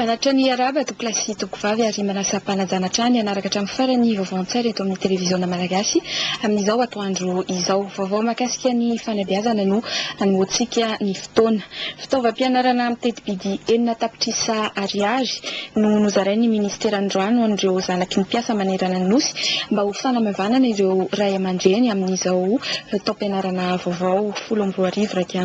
Manatitra ny iarahaba tompolahy sy tompovavy ary manasa mpanajana hatrany hanaraka hatramin'ny farany ny vaovao an-tsaina eto amin'ny televiziona malagasy amin'izao atoandro izao. Vaovao mahakasika ny fanabeazana no hanoantsika ny fotoana. Fitaovam-pianarana amin'ny teti-bidy enina tapitrisa ariary no nozarain'ny minisitera androany ho an'ireo zanaky ny mpiasa manerana ny Nosy mba ho fanamavanana ireo ray aman-dreny amin'izao taom-pianarana vaovao folo amby roa arivo iraika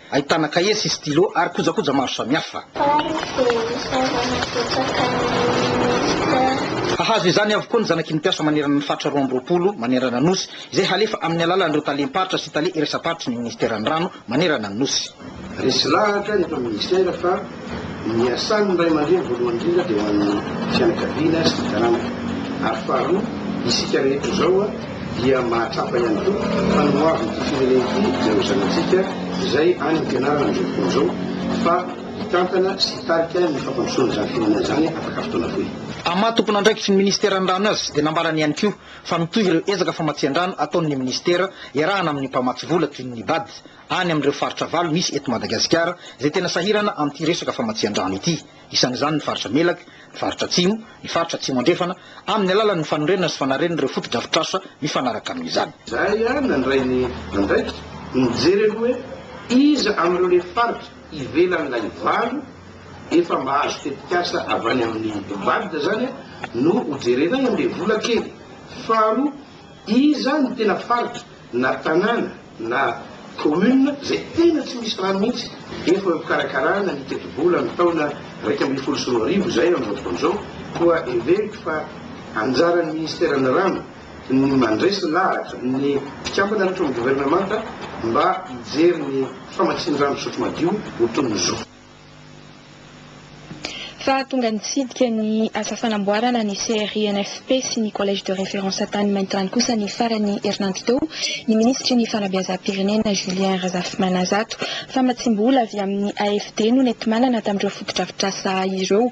Ahitana kahie sy stylo ary kojakoja maro samihafa. Hahazo izany avokoa ny zanaky ny mpiasa manerana ny faritra roa amby roapolo manerana ny Nosy, izay halefa amin'ny alalan'ireo talem-paritra sy tale iraisam-paritry ny Ministeran'ny Rano manerana ny Nosy. Resy lahatra eto amin'ny Ministera fa Ny asan' ny ray aman-dreny voalohany indrindra dia ho an' ny fianakaviana sy ny taranaka, ary faharoa, isika rehetra izao dia mahatsapa ihany koa fa nohavin' ity firenena ity ireo zanatsika izay any am-pianarana amin' izao fotoana izao fa hitantana sy hitarika ny fampandrosoana izany firenena izany afaka fotoana fohy. Tamin'ny maha tompon' andraikitry ny Ministera ny rano azy dia nambarany ihany koa fa mitohy ireo ezaka famatsian-drano ataon' ny Ministera iarahana amin' ny mpamatsy vola toy ny Bad, any amin'ireo faritra valo misy eto Madagasikara izay tena sahirana amin'ity resaka famatsian-drano ity. Isan'izany ny faritra Melaky, ny faritra Atsimo, ny faritra Atsimo Andrefana, amin'ny alalan'ny fanorenana sy fanarenan'ireo fotodrafitrasa mifanaraka amin'izany. Izahay ihany nandray ny andraikitra ny mijery aloha hoe iza amin'ireo le faritra ivelan'ilay valo efa mahazo tetikasa avy any amin'ny VADD izany no hojerenay amin'ilay vola kely. Faharoa, iza no tena faritra na tanàna na commune izay tena tsy misy rano mihitsy efa mpikarakarana ny tetibola ny taona iraika ambin'ny folo sy roa arivo izay amin'izao fotoana izao koa heveriko fa anjaran'ny ministeran'ny rano ny mandresy lahatra ny mpikambana rehetra ao amin'ny governemanta mba hijery ny famatsian-drano fisotro madio ho toy ny zo. Fa tonga nitsidika ny asa fanamboarana ny CRINFP sy ny Collège de référence tany Maintirano kosa ny faran'ny herinandro teo ny minisitry ny Fanabeazam-pirenena, Julien Razafimanazato. Famatsiam-bola avy amin'ny AFD no nenti-manana tamin'ireo fotodrafitrasa ireo.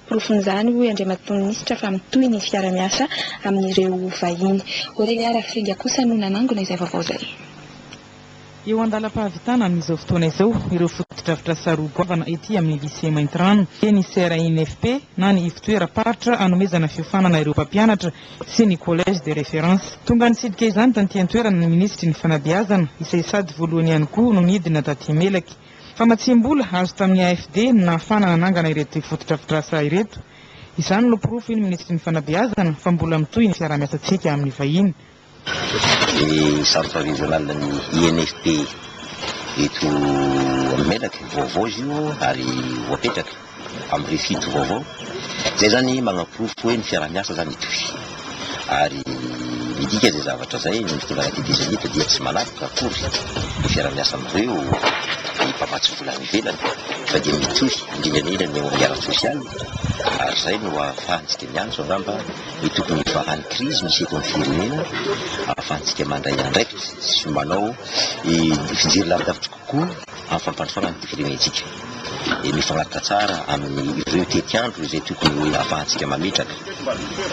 Porofon'izany, hoy Andriamatoa Minisitra, fa mitohy ny fiara-miasa amin'ireo vahiny. Aurelia Rafringa kosa no nanangona izay vaovao izay. Eo an-dalam-pahavitana amin'izao fotoana izao ireo fotodrafitrasa roa goavana ety amin'ny Lycée Maintirano, dia ny CRINFP na ny Ivotoeram-paritra anomezana fiofanana ireo mpampianatra sy ny Collège de référence. Tonga nitsidika izany taty an-toerana ny Minisitry ny Fanabeazana, izay sady voalohany ihany koa no nidina taty Melaky. Famatsiam-bola azo tamin'ny AFD no nahafahana nanangana ireto fotodrafitrasa ireto. Izany no porofo hoy ny Minisitry ny Fanabeazana fa mbola mitohy ny fiaraha-miasantsika amin'ny vahiny. ny centre régional ny INFP eto amin'ny Melaky, vaovao izy io ary voapetraka amin'ny refit vaovao, izay izany manaporofo hoe ny fiaraha-miasa izany hitohy ary midika izay zavatra izay ny fitondrana TT Zénith dia tsy manavaka akory ny fiaraha-miasa amin'ireo mpamatsy vola any ivelany fa dia mitohy indrindra indrindra ny eo amin'ny ara-tsosialy ary izay no ahafahantsika miantso angamba ny tokony hivahan'ny krizy misy eto amin'ny firenena ahafahantsika mandray andraikitra sy manao fijery lavidavitra kokoa amin'ny fampandrosoana an'ity firenentsika. Dia mifanaraka tsara amin'ireo tetiandro izay tokony ahafahantsika mametraka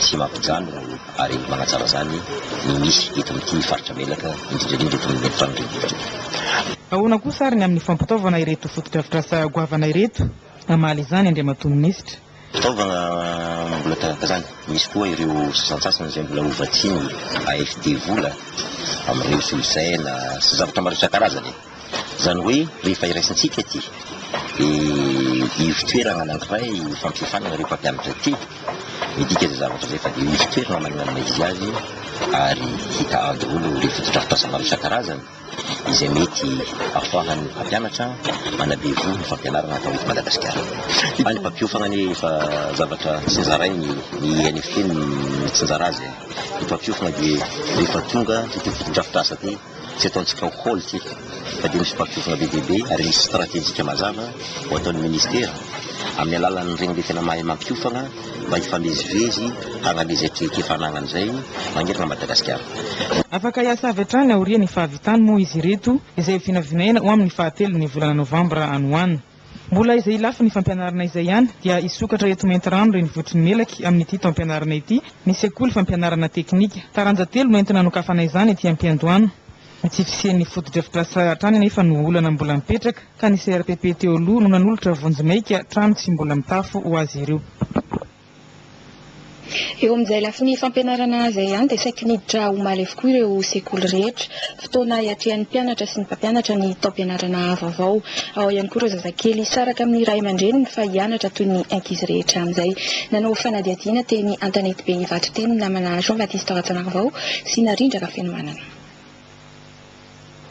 sy mampijanona ary manatsara izany ny misy eto amin'ity faritra Melaka, indrindra indrindra eto amin'ny efitrano renivohitra. Ahoana kosa ary ny amin'ny fampitaovana ireto fotodrafitrasa goavana ireto? Hamaly izany Andriamatoa Minisitra. Fitaovana mbola tahaka izany. Misy koa ireo sasantsasany izay mbola hovatsian'ny AFD vola amin'ireo solosaina sy zavatra maro isan-karazany e! Izany hoe rehefa iraisantsika ity ivo-toerana anankiray ifampihefana amin'ireo mpampianatra ity, midika izay zavatra izay fa dia ivo-toerana maninona na iza aza io ary hita an-daholo ireo fotodrafitrasa maro isan-karazany. izay mety ahafahan'ny mpampianatra manabe voho ny fampianarana atao eto Madagasikara. Fa ny mpampiofagna anie efa zavatra tsinjarainy, ny INFP no mitsinjara azy e! Ny mpampiofagna dia rehefa tonga ity fotodrafitrasa ity, tsy ataontsika au hall ity fa dia misy mpampiofagna be dia be ary misy stratejika mazava ho ataon'ny Ministera amin'ny alalan'ireny le tena mahay mampiofagna, mba hifamezivezy hagname izay traikefa anagnany izay magnerana an'i Madagasikara. Afaka hiasa avy hatrany aorian'ny fahavitany moa izy ireto izay ho vinavinaina ho amin'ny fahatelon'ny volana novambra any ho any. Mbola izay lafiny fampianarana izay ihany dia hisokatra eto Maintirano renivohitry ny Melaky amin'ity taom-pianarana ity ny sekoly fampianarana teknika. Taranja telo no entina nokafanay izany ety am-piandohana Ny tsy fisian'ny fotodrafitrasa hatrany anefa no olana mbola mipetraka ka ny CRPP teo aloha no nanolotra vonjy maika trano tsy mbola mitafo ho azy ireo. Eo amin'izay lafiny fampianarana izay ihany dia saiky miditra omaly avokoa ireo sekoly rehetra. Fotoana hiatrehan'ny mpianatra sy ny mpampianatra ny taom-pianarana vaovao. Ao ihany koa ireo zazakely hisaraka amin'ny ray aman-dreniny fa hianatra toy ny ankizy rehetra amin'izay. Nanao fanadihadiana teny Antanetibe Ivato teny ny namana Jean Baptiste Rajaonarivao sy Narindra Rafenomanana.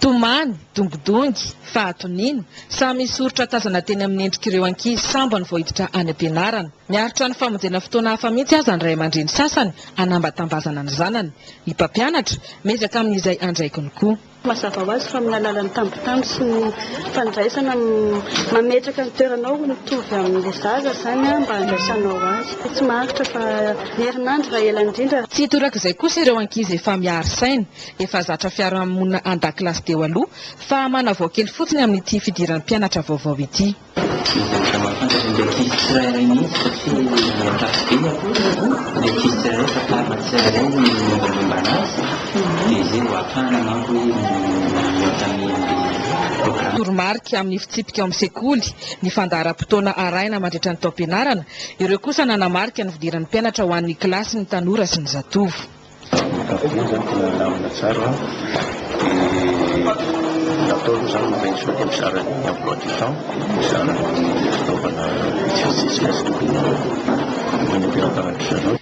Tomany, dongidongy, fahatoniana, samy misy soritra tazana teny amin'ny endrik'ireo ankizy sambany vao hiditra any am-pianarana. Miaritra ny famonjena fotoana hafa mihitsy aza ny ray aman-dreny sasany hanambatambazana ny zanany. Ny mpampianatra, miezaka amin'izay andraikiny koa. Mazava ho azy fa amin'ny alalan'ny tambitamby sy ny fandraisana, mametraka ny toeranao ho mitovy amin'ilay zaza izany mba handraisanao azy. Tsy maharitra fa. Herinandro raha ela indrindra. Tsy torak'izay kosa ireo ankizy efa miaro saina, efa zatra fiarahamonina an-dakilasy teo aloha, fa manavao kely fotsiny amin'ity fidiran'ny mpianatra vaovao ity. Mivoatra mahafantatra ny ankizy tsirairay mihitsy satria mahatahotra be ny ankizy ny ankizy tsirairay fantarina tsirairay ny mombamomba anazy dia izay vao ahafahana manko hoe mi-entamer an'ilay programme. Toromarika amin'ny fitsipika ao amin'ny sekoly, ny fandaharam-potoana arahina mandritra ny taom-pianarana, Ireo kosa nanamarika ny fidiran'ny mpianatra ho an'ny kilasy ny tanora sy ny zatovo.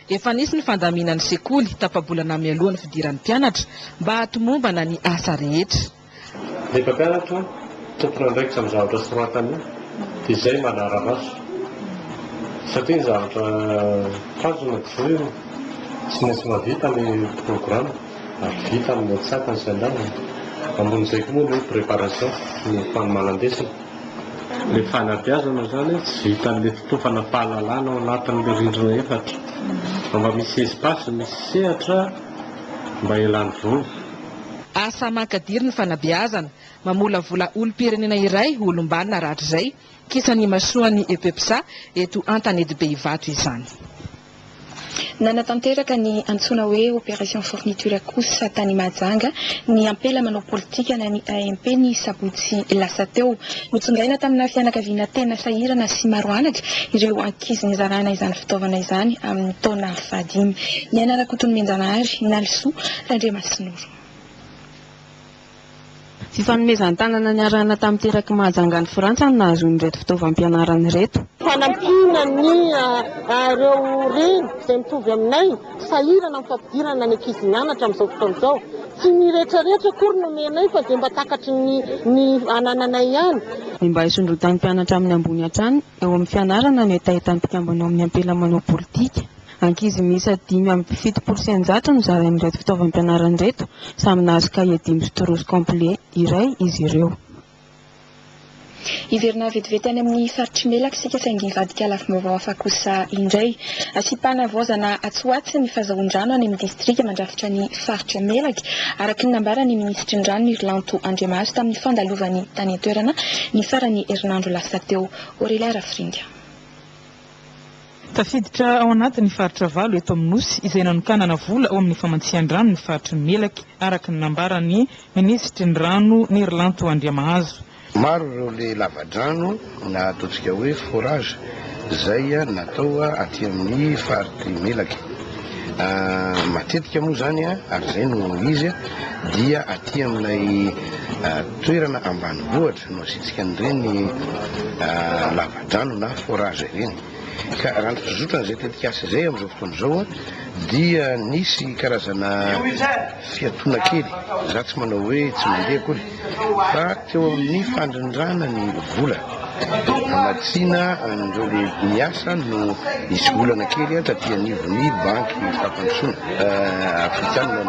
Efa nisy ny fandaminan'ny sekoly tapa-bolana mialoha ny fidiran'ny mpianatra mba hahatomombana ny asa rehetra. Ny mpampianatra tompon'andraikitra amin'ny zavatra soratany io dia izay manara-maso satria ny zavatra tanjona dia izao io, tsy maintsy mahavita ny programme ary vita amin'ny antsatany sy andaniny. Ambonin'izay koa moa ny hoe préparation, ny fanomanan-desona. Ilay fanabeazana izany tsy vitan'ilay fitofana fahalalana ao anatin'ilay rindrina efatra fa mba misy espace, misy sehatra mba hialany voly. Asa mankadiry ny fanabeazana, mamolavola olom-pirenena iray ho olom-banona rahatrizay, kisan'ny imasoan'ny Epepsa eto Antanety Behivato izany. Nanatanteraka ny antsoina hoe Opération Fourniture kosa tany Mahajanga ny ampela manao politika na ny AMP ny sabotsy lasa teo. Notsongaina tamina fianakaviana tena sahirana sy maro anatra ireo ankizy nizarana izany fitaovana izany amin'ny taona fahadimy. Niaina Rakotonimbenjanahary, Nalisoa, Randriamasinoro. Tsy fanomezan-tanana niarahana tamin'ny teraky Mahajanga any Frantsa no nahazoany ireto fitaovam-pianarana ireto. Fanampiana ny ireo reny izay mitovy aminay sahirana amin'ny fampidirana ny ankizy mianatra amin'izao fotoana izao. Tsy ny rehetrarehetra akory no omenay fa izay mba takatry ny ny anananay ihany. Ny mba hisondrotan'ny mpianatra amin'ny ambony hatrany eo amin'ny fianarana no hetahetan'ny mpikambana ao amin'ny Ampela manao politika. Ankizy miisa dimy amby fitopolo sy eninjato no zarain'ireto fitaovam-pianarana ireto, samy nahazo kahie dimy sy trousse complet iray izy ireo. Hiverina vetivety any amin'ny faritr'i Melaky isika saingy hivadika lafim-baovao hafa kosa indray. Asiam-panavaozana atsy ho atsy ny fazahoan-drano any amin'ny distrika mandrafitra ny faritra Melaky, araka ny nambaran'ny minisitry ny Rano Nirlanto Andriamahazo tamin'ny fandalovany tany an-toerana ny faran'ny herinandro lasa teo. Aurelia Rafiringa. Tafiditra ao anatin'ny faritra valo eto amin'ny Nosy izay nanokanana vola ao amin'ny famatsian-drano ny faritry ny Melaky, araka ny nambaran'ny minisitry ny Rano, Nerilanto Andriamahazo. Maro ireo le lavadrano na ataontsika hoe forage izay natao aty amin'ny faritry Melaky. Matetika moa izany ary izay no izy dia aty amin'ilay toerana ambanivohitra. Nositrika an'ireny lavadrano na forage ireny ka raha ny fizotran'izay tetikasa izay amin'izao fotoana izao dia nisy karazana fiatoana kely, za tsy manao hoe tsy mandeha akory fa teo amin'ny fandrindrana ny vola hamatsiana an'ireo lehibe miasa no nisy olana kely taty anivon'ny banky fampandrosoana afrikanina ny.